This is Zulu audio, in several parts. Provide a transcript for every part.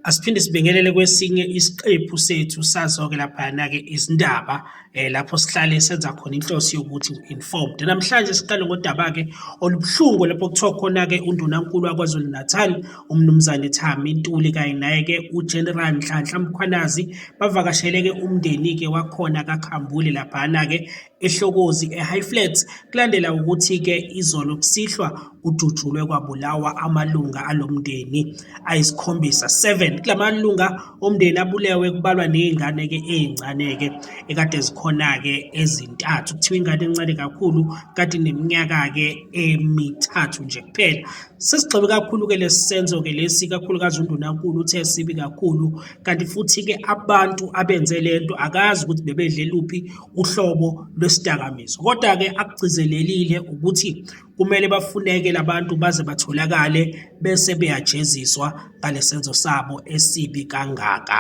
Asiphinde sibingelele kwesinye isiqephu sethu sazoke laphayana-ke izindaba um lapho sihlale senza khona inhloso yokuthi informed namhlanje siqale ngodaba-ke olubuhlungu lapho kuthiwa khona-ke undunankulu wakwazulu natal umnumzane thami ntuli kanye naye-ke ugeneral nhlanhla mkhwanazi bavakashele-ke umndeni-ke wakhona kakhambule laphana-ke eHlokozi eHighflat kulandela ukuthi ke izolo kusihlwa kudutshulwe kwabulawa amalunga alomndeni ayisikhombisa 7 kulamalunga omndeni abulewe kubalwa nezingane ke ezincane ke ekade zikhona ke ezintathu kuthiwa ingane encane kakhulu kade neminyaka ke emithathu nje kuphela sesigxebe kakhulu ke lesenzo ke lesi kakhulukazi undunankulu uthe sibi kakhulu kanti futhi ke abantu abenze lento akazi ukuthi bebedle luphi uhlobo lwesidakamizwa kodwa-ke akugcizelelile ukuthi kumele bafuneke labantu baze batholakale bese beyajeziswa ngalesenzo sabo esibi kangaka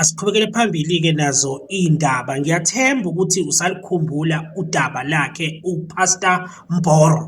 asiqhubekele phambili-ke nazo iy'ndaba ngiyathemba ukuthi usalikhumbula udaba lakhe upastor mboro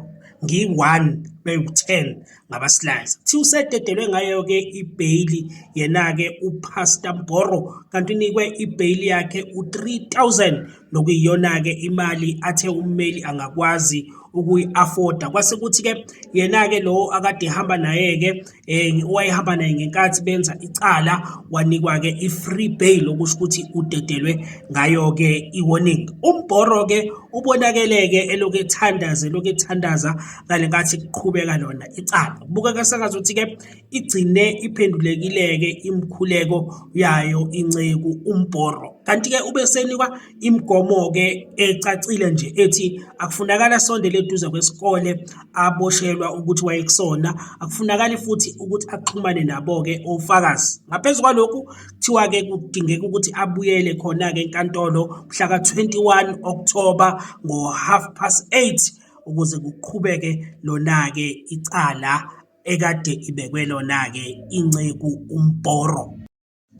ngiyi-one bewu-ten ngabaslice kuthiwa usededelwe ngayo-ke ibheyili yena-ke upastor mboro kanti unikwe ibheyili yakhe u-3000 nokuyiyona-ke imali athe ummeli angakwazi ukuyi-afforda kwase kuthi-ke yena-ke lowo akade ehamba naye-ke um owayehamba naye ngenkathi benza icala wanikwa-ke i-free bail okusho ukuthi udedelwe ngayo-ke i-warning umbhoro-ke ubonakele-ke elokhu ethandaza elokhu ethandaza ngale nkathi kuqhubeka lona icala kubukeka sengathi ukuthi-ke igcine iphendulekile-ke imikhuleko yayo inceku umbhoro kanti-ke ube senikwa imigomo-ke ecacile nje ethi akufunakala sondele eduze kwesikole aboshelwa ukuthi wayekusona akufunakali futhi ukuthi axhumane nabo-ke ofakazi ngaphezu kwalokhu kuthiwa-ke kudingeka ukuthi abuyele khona-ke enkantolo mhlaka-21 okthoba ngo-half past 8 ukuze kuqhubeke lona-ke icala ekade ibekwe lona-ke inceku umbhoro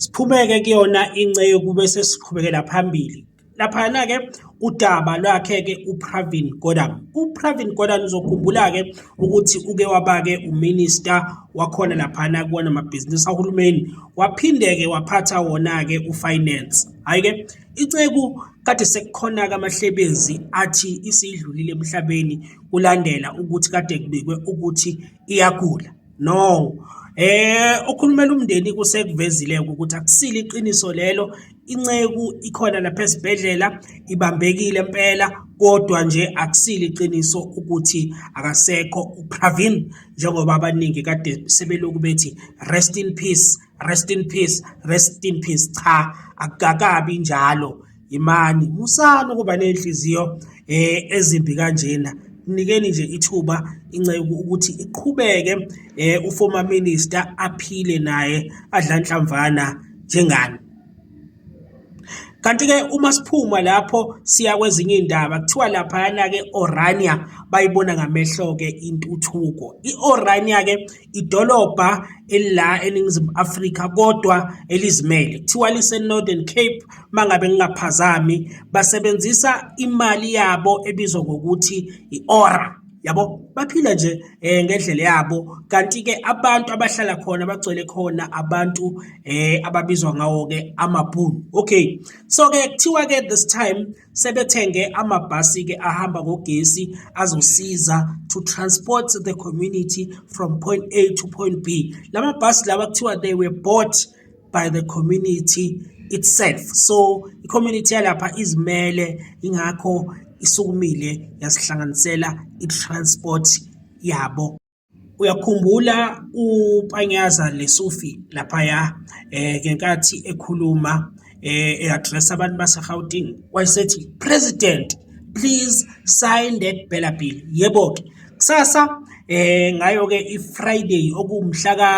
siphume-ke kuyona inceku bese siqhubekela phambili laphayana-ke udaba lwakhe-ke upravin gordon upravin gordon uzokhumbula-ke ukuthi uke waba-ke uminista wakhona laphana kuwona mabhizinisi ahulumeni waphinde-ke waphatha wona-ke ufinance hhayi-ke Iceku kade sekukhona-ke amahlebezi athi isidlulile emhlabeni kulandela ukuthi kade kubikwe ukuthi iyagula. No, eh okhulumela umndeni kusekuvezile ukuthi akusile iqiniso lelo inceku ikhona lapha esibhedlela ibambekile impela kodwa nje akusile iqiniso ukuthi akasekho uPravin njengoba abaningi kade sebeloku bethi rest in peace rest in peace rest in peace cha akukakabi njalo imani musani ukuba nenhliziyo eh ezimbi kanjena mnikeni nje ithuba inceku ukuthi iqhubeke eh uformer minister aphile naye adla nhlamvana njengani Kanti-ke uma siphuma lapho siya kwezinye iy'ndaba kuthiwa laphayana-ke Orania bayibona ngamehlo-ke intuthuko. I-Orania-ke idolobha elila eNingizimu Afrika kodwa elizimele. Kuthiwa lise-Northern Cape uma ngabe ngingaphazami, basebenzisa imali yabo ebizwa ngokuthi i-ORA. yabo baphila nje eh ngendlela yabo kanti ke abantu abahlala khona bagcwele khona abantu eh ababizwa ngawo ke amabhunu okay so ke kuthiwa ke this time sebethenge amabhasi ke ahamba ngogesi azosiza to transport the community from point A to point B lamabhasi lawa kuthiwa they were bought by the community itself so i-community yalapha izimele ingakho isukumile yasihlanganisela i-transport yabo uyakhumbula upanyaza lesufi laphaya eh ngenkathi ekhuluma eh eaddress abantu baseGauteng wayesethi president please sign that bella bill yebo ke kusasa eh ngayo ke ifriday okumhla ka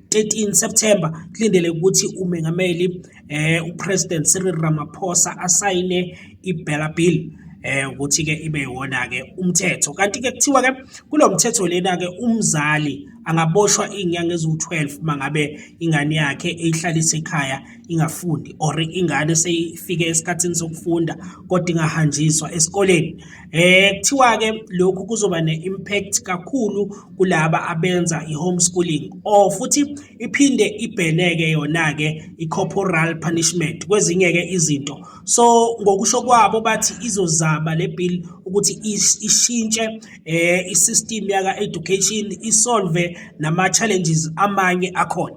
13 September kulindele ukuthi umengameli eh uPresident Cyril Ramaphosa asayine iBella Bill eh ukuthi ke ibe yona ke umthetho kanti ke kuthiwa ke kulomthetho lena ke umzali angaboshwa inyanga eziwu12 mangabe ingane yakhe eyihlalisa ekhaya ingafundi or ingane seyifike esikhathini sokufunda kodwa ingahanjiswa esikoleni Eh kuthiwa-ke lokhu kuzoba ne-impact kakhulu kulaba abenza i-homeschooling or futhi iphinde ibheneke yona-ke i-corporal punishment kwezinye-ke izinto so ngokusho kwabo bathi izozama le bill ukuthi ishintshe eh i-system yaka-education isolve nama-challenges amanye akhona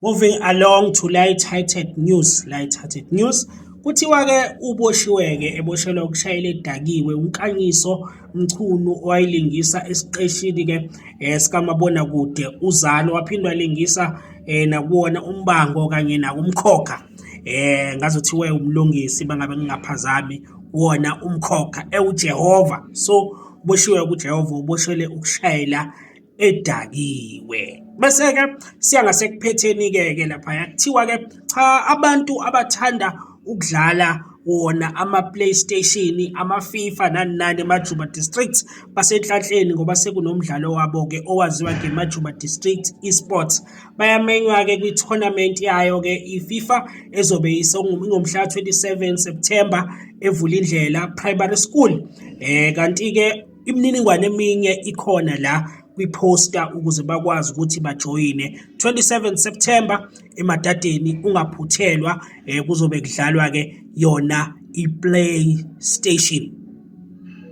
Moving along to light-hearted news, light-hearted news. Kuthiwa-ke uboshiwe-ke eboshelwa ukushayela edakiwe uNkanyiso Mchunu owayilingisa esiqeshini-ke eh, sikamabonakude uZalo waphinde walingisa eh, nakuwona umbango kanye nakumkhokha eh ngazothiwe umlungisi bangabe ngingaphazami wona umkhokha ewuJehova so uboshiwe kuJehova uboshele ukushayela edakiwe bese-ke siya ngasekuphetheni-ke ke laphaya kuthiwa-ke cha abantu abathanda ukudlala wona ama-playstation ama-fifa nani nani emajuba district basenhlanhleni ngoba sekunomdlalo wabo-ke owaziwa ngemajuba district esports bayamenywa-ke kwi-tournament yayo-ke i-fifa ezobe ingomhla 27 september evula indlela primary school um kanti-ke Imininingwane eminye ikhona la kwiposta ukuze bakwazi ukuthi bajoyine 27 September emadadeni ungaphuthelwa eh, kuzobe kudlalwa ke yona iPlaystation